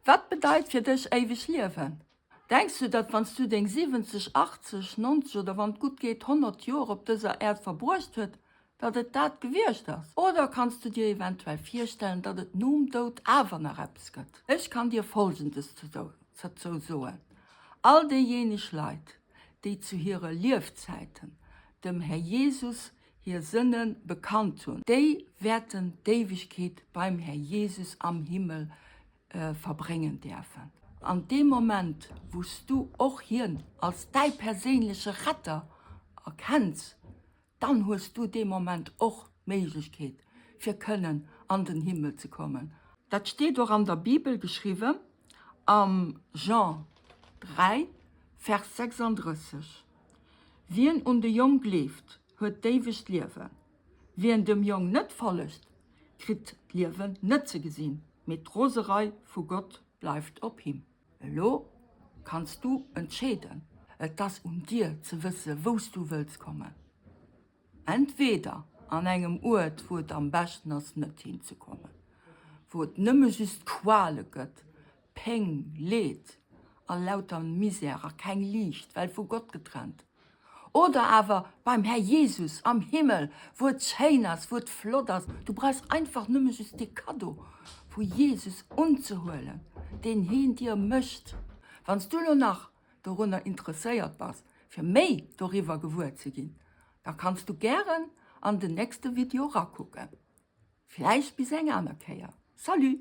Wat bedeit fir dech éiweg Liewen? Denks du, datt wann s du deng 70, 80, 90 oder wann et gutt geet 100 Joer op dëser Äerd verbruecht huet, datt et dat gewiescht ass? Oder kanns du dir eventuell virstellen, datt et nom Doud awer nach eppes gëtt? Ech kann dir Folgendes dozou soen, All déijeeneg Leit, déi zu hire Liefzäiten dem Här Jesus hir Sënne bekannt hunn, déi wäerten d'Éiwegkeet beim Här Jesus am Himmel verbréngen däerfen. An dee Moment, wou s du och Hien als däi perséinleche Retter erkenns, dann hues du dee Moment och d'Méiglechkeet, fir kënnen an den Himmel ze kommen. Dat steet och an der Bibel geschriwwen, am Jean 3, Vers 36. Wien un de Jong gleeft, huet d'éiwegt Liewen. Wien dem Jong net follegt, kritt d'Liewen net ze gesinn, mee d'Roserei vu Gott bleift op him. Elo kanns du entscheeden, et ass un dir ze wësse wou s du wëlls kommen. Entweeder an engem Uert, wou et am beschten ass net hinzekommen, wou et nëmme just Quale gëtt, Péng, Leed a lauter Misär a keng Liicht, well vu Gott getrennt. Oder awer beim Här Jesus am Himmel, wou et schéin ass, wou et flott ass. Du brauchs einfach nëmme just dee Kaddo vu Jesus unzehuelen, deen heen dir mécht. Wann s du elo nach dorunner interesséiert bass, fir méi doriwwer gewuer ze ginn, da kanns du gären an den nächste Video rakucken. Vläicht bis eng aner Kéier. Salut!